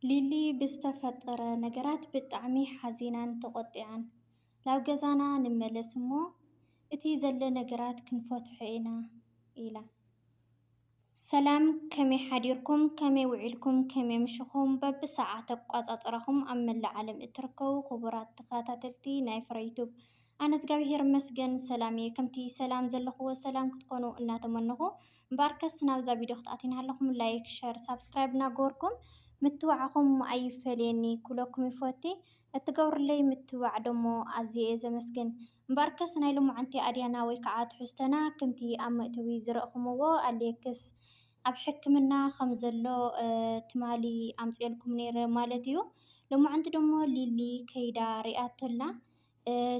ሊሊ ብዝተፈጠረ ነገራት ብጣዕሚ ሓዚናን ተቖጢዓን። ናብ ገዛና ንመለስ እሞ እቲ ዘሎ ነገራት ክንፈትሖ ኢና ኢላ። ሰላም ከመይ ሓዲርኩም ከመይ ውዒልኩም ከመይ ኣምሽኹም በብሰዓት ኣቋጻጽራኹም ኣብ መላእ ዓለም እትርከቡ ክቡራት ተኸታተልቲ ናይ ፍረ ዩቱብ ኣነ እዝጋቢሄር ይመስገን ሰላም እየ ከምቲ ሰላም ዘለኽዎ ሰላም ክትኮኑ እናተመነኹ እምበኣርከስ ናብዛ ቪድዮ ክትኣትዉ እናሃለኹም ላይክ ሸር ሳብስክራይብ እናገበርኩም ምትብባዕኹም ኣይፈለየኒ ክብለኩም ይፈቲ እትገብሩለይ ምትብባዕ ደሞ ኣዝየ እየ ዘመስግን እምበኣርከስ ናይ ሎማዓንቲ ኣድያና ወይ ከዓ ትሕዝቶና ክምቲ ኣብ መእተዊ ዝረእኹምዎ ኣሌክስ ኣብ ሕክምና ከም ዘሎ ትማሊ ኣምፅኤልኩም ነይረ ማለት እዩ ሎማዓንቲ ደሞ ሊሊ ከይዳ ሪኣቶ ኣላ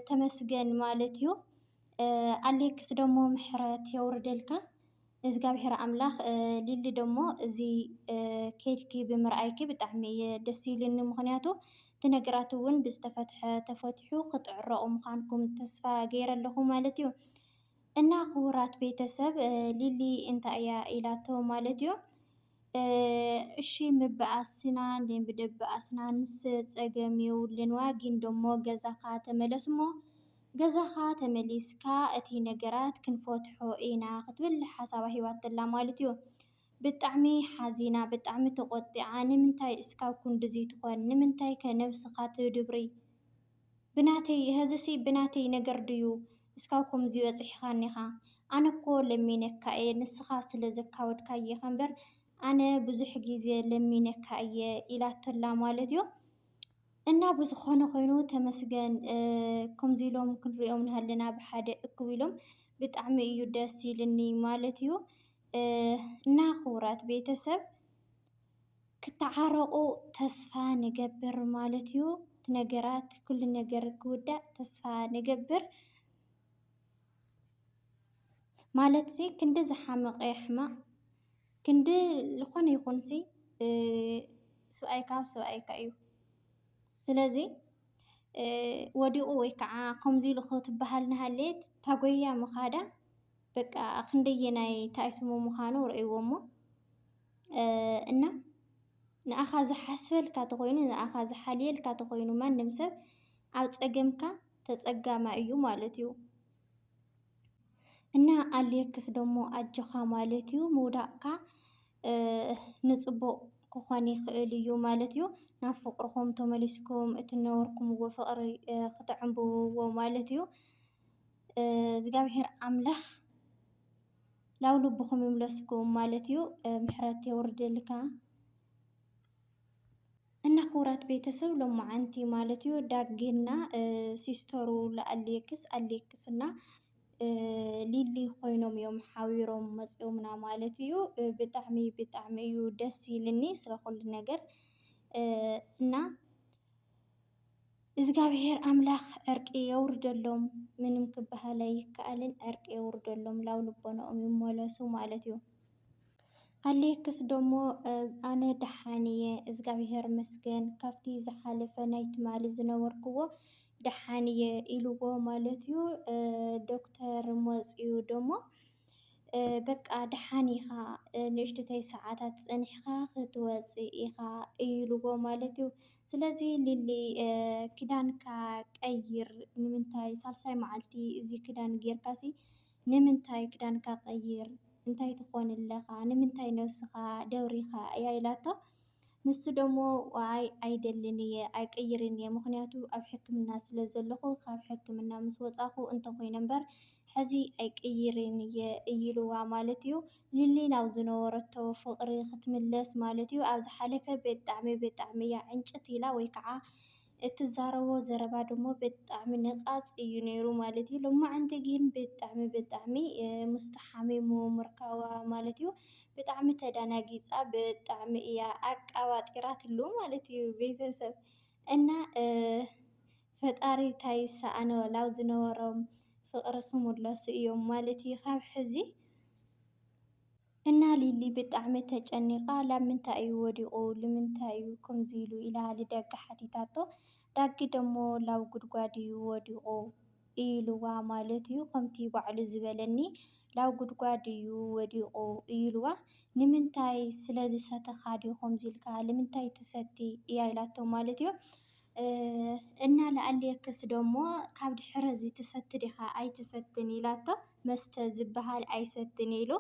ተመስገን ማለት እዩ ኣሌክስ ደሞ ምሕረት የውርደልካ እዝጋብሄር ኣምላክ ሊሊ ደሞ እዚ ከይድኪ ብምርኣይኪ ብጣዕሚ እየ ደስ ኢሉኒ ምክንያቱ እቲ ነገራት እውን ብዝተፈትሐ ተፈትሑ ክትዕረቁ ምኳንኩም ተስፋ ገይረ ኣለኩ ማለት እዩ እና ክቡራት ቤተሰብ ሊሊ እንታይ እያ ኢላቶ ማለት እዩ እሺ ምብኣስና እንዴ ብደብኣስናንስ ጸገም የውልን እዋ ጊን ደሞ ገዛኻ ተመለስ እሞ ገዛኻ ተመሊስካ እቲ ነገራት ክንፈትሖ ኢና ክትብል ሓሳባ ሂባቶላ ማለት እዩ ብጣዕሚ ሓዚና ብጣዕሚ ተቆጢዓ ንምንታይ እስካብ ኩንድዙይ ትኾን ንምንታይከ ነብስኻ ትድብሪ ብናተይ ሀዚሲ ብናተይ ነገር ድዩ እስካብ ከምዚ በጺሕኻኒኻ ኣነ እኮ ለሚነካ እየ ንስኻ ስለ ዘካበድካዬኻ እምበር ኣነ ብዙሕ ግዜ ለሚነካ እየ ኢላቶላ ማለት እዩ። እና ብዝኾነ ኾይኑ ተመስገን ከምዚ ኢሎም ክንሪኦም ንሃለና ብሓደ እኩብ ኢሎም ብጣዕሚ እዩ ደስ ኢልኒ ማለት እዩ። እና ክቡራት ቤተሰብ ክተዓረቁ ተስፋ ንገብር ማለት እዩ እቲ ነገራት ኩሉ ነገር ክውዳእ ተስፋ ንገብር ማለት እዚ ክንዲ ዝሓመቀ ሕማቅ ክንዲ ልኾነ ይኹን ሲ ስብኣይ ካብ ስብኣይካ እዩ ስለዚ ወዲቁ ወይ ከዓ ከምዚ ኢሉ ክትበሃል እናሃለየት ታጎይያ ምኻዳ በቃ ክንደየናይ ታይ ስሙ ምዃኑ ርእይዎሞ እና ንኣኻ ዝሓስበልካ ተኾይኑ ንኣኻ ዝሓልየልካ ተኾይኑ ማንም ሰብ ኣብ ፀገምካ ተፀጋማይ እዩ ማለት እዩ። እና ኣልየክስ ደሞ ኣጆኻ ማለት እዩ ምውዳቕካ ንፅቡቕ ክኾን ይኽእል እዩ ማለት እዩ። ናብ ፍቕርኹም ተመሊስኩም እቲ ነበርኩምዎ ፍቕሪ ክተዕንብብዎ ማለት እዩ። እዝጋብሔር ኣምላክ ናብ ልብኩም ይምለስኩም ማለት እዩ። ምሕረት የውርድልካ እና ክቡራት ቤተሰብ ሎማዓንቲ ማለት እዩ ዳግና ሲስተሩ ለኣሌክስ ኣሌክስ እና ሊሊ ኮይኖም እዮም ሓቢሮም መፂኦምና ማለት እዩ። ብጣዕሚ ብጣዕሚ እዩ ደስ ኢልኒ ስለኩሉ ነገር እና እዝጋብሄር ኣምላክ ዕርቂ የውርደሎም ምንም ክበሃል ኣይከኣልን ዕርቂ የውርደሎም ላው ልቦነኦም ይመለሱ ማለት እዩ። ኣሌክስ ደሞ ኣነ ደሓን እየ እዝጋብሄር ይመስገን ካብቲ ዝሓለፈ ናይ ትማሊ ዝነበርክዎ ደሓን እየ ኢልዎ ማለት እዩ። ዶክተር መፅዩ ደሞ በቃ ደሓን ኢኻ ንእሽትተይ ሰዓታት ጸኒሕኻ ክትወጽእ ኢኻ እዩልዎ ማለት እዩ። ስለዚ ሊሊ ክዳንካ ቀይር ንምንታይ ሳልሳይ መዓልቲ እዚ ክዳን ጌርካሲ ንምንታይ ክዳንካ ቀይር እንታይ ትኾን ኣለኻ ንምንታይ ነብስኻ ደብሪኻ እያ ኢላቶ። ንሱ ደሞ ዋይ ኣይደልን እየ ኣይቅይርን እየ ምኽንያቱ ኣብ ሕክምና ስለ ዘለኹ ካብ ሕክምና ምስ ወፃኹ እንተኾይነ እምበር ሕዚ ኣይቅይርን እየ እይልዋ ማለት እዩ። ሊሊ ናብ ዝነበረቶ ፍቕሪ ክትምለስ ማለት እዩ። ኣብ ዝሓለፈ ብጣዕሚ ብጣዕሚ እያ ዕንጭት ኢላ ወይ ከዓ እትዛረቦ ዘረባ ድሞ ብጣዕሚ ንቓጽ እዩ ነይሩ ማለት እዩ። ሎማዓንቲ ግን ብጣዕሚ ብጣዕሚ ምስቱ ሓሚሙ ምርካባ ማለት እዩ ብጣዕሚ ተዳናጊጻ ብጣዕሚ እያ ኣቃባጢራትሉ ማለት እዩ ቤተሰብ እና ፈጣሪ ታይ ይሰኣኖ ላብ ዝነበሮም ፍቅሪ ክምለሱ እዮም ማለት እዩ ካብ ሕዚ እና ሊሊ ብጣዕሚ ተጨኒቃ ላብ ምንታይ እዩ ወዲቁ ልምንታይ እዩ ክምዙይ ኢሉ ኢላ ልዳጊ ሓቲታቶ ዳጊ ደሞ ላብ ጉድጓድ እዩ ወዲቁ እይልዋ ማለት እዩ ከምቲ ባዕሉ ዝበለኒ ላብ ጉድጓድ እዩ ወዲቁ እይልዋ ንምንታይ ስለዝሰተካ ድዩ ከምዙይ ኢልካ ልምንታይ ትሰቲ እያ ኢላቶ ማለት እዩ። እና ልኣልየክስ ደሞ ካብ ድሕረዚ ትሰቲ ዲኻ ኣይትሰትን ኢላቶ መስተ ዝባሃል ኣይሰትን ኢሉ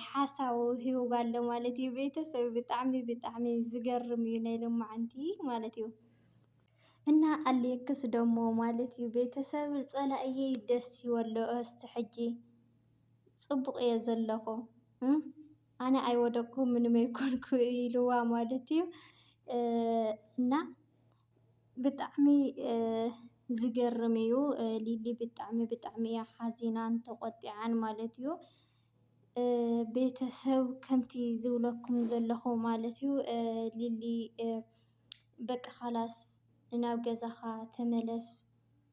ሓሳቡ ሂቡዋ ኣሎ ማለት እዩ ቤተሰብ ብጣዕሚ ብጣዕሚ ዝገርም እዩ ናይ ሎማዓንቲ ማለት እዩ። እና ኣልየክስ ደሞ ማለት እዩ ቤተሰብ ፀላእየይ ደስ ይበሎ እስቲ ሕጂ ፅቡቅ እየ ዘለኹ። ኣነ ኣይወደቅኩ ምንም ኣይኮንኩ ኢልዋ ማለት እዩ እና ብጣዕሚ ዝገርም እዩ። ሊሊ ብጣዕሚ ብጣዕሚ እያ ሓዚናን ተቖጢዓን ማለት እዩ። ቤተሰብ ከምቲ ዝብለኩም ዘለኹ ማለት እዩ ሊሊ በቃ ኻላስ ናብ ገዛኻ ተመለስ፣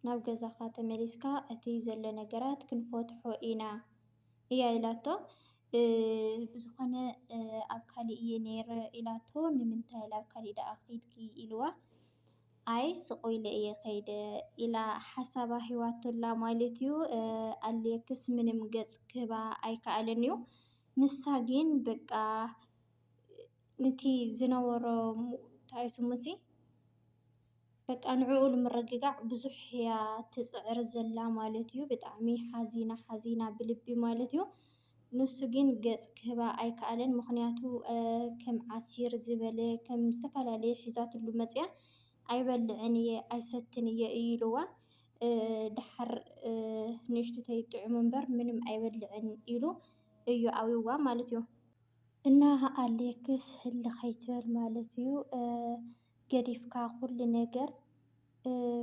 ናብ ገዛኻ ተመሊስካ እቲ ዘሎ ነገራት ክንፈትሖ ኢና። እያ ኢላቶ። ብዝኾነ ኣብ ካሊእ እየ ነይረ ኢላቶ። ንምንታይ ላብ ካሊእ ደኣ ከይድኪ ኢልዋ። ኣይ ስቕ ኢለ እየ ከይደ ኢላ ሓሳባ ሂባቶ ኣላ ማለት እዩ። ኣሌክስ ምንም ገፅ ክህባ ኣይከኣለን እዩ። ንሳ ግን በቃ ንቲ ዝነበሮ ታይ ስሙ እዙይ በቃ ንዕኡ ንምርግጋዕ ብዙሕ እያ ትፅዕር ዘላ ማለት እዩ። ብጣዕሚ ሓዚና ሓዚና ብልቢ ማለት እዩ። ንሱ ግን ገፅ ክህባ ኣይከኣለን። ምኽንያቱ ከም ዓሲር ዝበለ ከም ዝተፈላለየ ሒዛትሉ መፅያ ኣይበልዕን እየ ኣይሰትን እየ እዩ ኢልዋ። ደሓር ንእሽቱተይ ጥዑም እምበር ምንም ኣይበልዕን ኢሉ እዩ ኣብይዋ ማለት እዩ። እና ኣሌክስ ህልኽ ኣይትበል ማለት እዩ። ገዲፍካ ኩሉ ነገር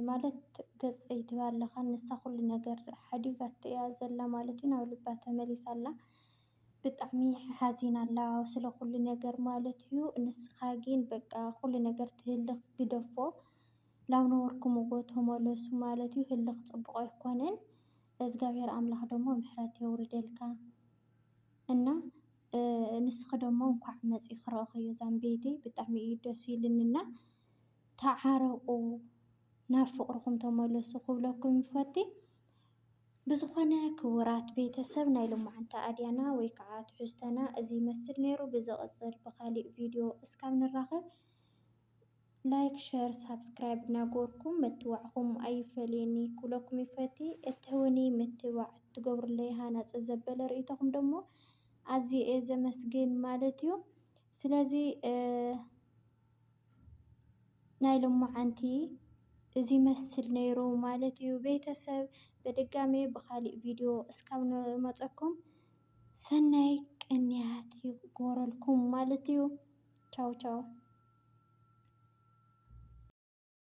ማለት ገጸይ ትብል ኣለኻ ንሳ ኩሉ ነገር ሓዲጋቶ እያ ዘላ ማለት እዩ ናብ ልባ ተመሊሳ ኣላ ብጣዕሚ ሓዚና ኣላ ስለ ኩሉ ነገር ማለት እዩ ንስኻ ግን በቃ ኩሉ ነገር ትህልኽ ግደፎ ላብ ነበርኩምዎ ተመለሱ ማለት እዩ ህልኽ ጽቡቕ ኣይኮነን እግዚኣብሔር ኣምላኽ ደሞ ምሕረት የውርደልካ እና ንስኪ ደሞ እንኳዕ መፂኪ ረእክዮ ዛምቤተይ ብጣዕሚ እዩ ደስ ኢልኒ እና ተዓረቁ ናብ ፍቅርኩም ተመለሱ ክብለኩም ይፈቲ ብዝኮነ ክቡራት ቤተሰብ ናይ ሎማዓንቲ ኣድያና ወይ ከዓ ትሕዝቶና እዚ ይመስል ነይሩ ብዝቅፅል ብካሊእ ቪድዮ እስካብ ንራከብ ላይክ ሸር ሳብስክራይብ ናገበርኩም ምትባዕኩም ኣይፈለየኒ ክብለኩም ይፈቲ። እትህቡኒ ምትባዕ እትገብሩለይ ሃናፂ ዘበለ ርእይቶኹም ደሞ ኣዝየ እየ ዘመስግን ማለት እዩ። ስለዚ ናይ ሎማዓንቲ እዚ ይመስል ነይሩ ማለት እዩ። ቤተሰብ በድጋሜ ብኻሊእ ቪድዮ እስካብ ንመፀኩም ሰናይ ቅንያት ይግበረልኩም ማለት እዩ። ቻው ቻው።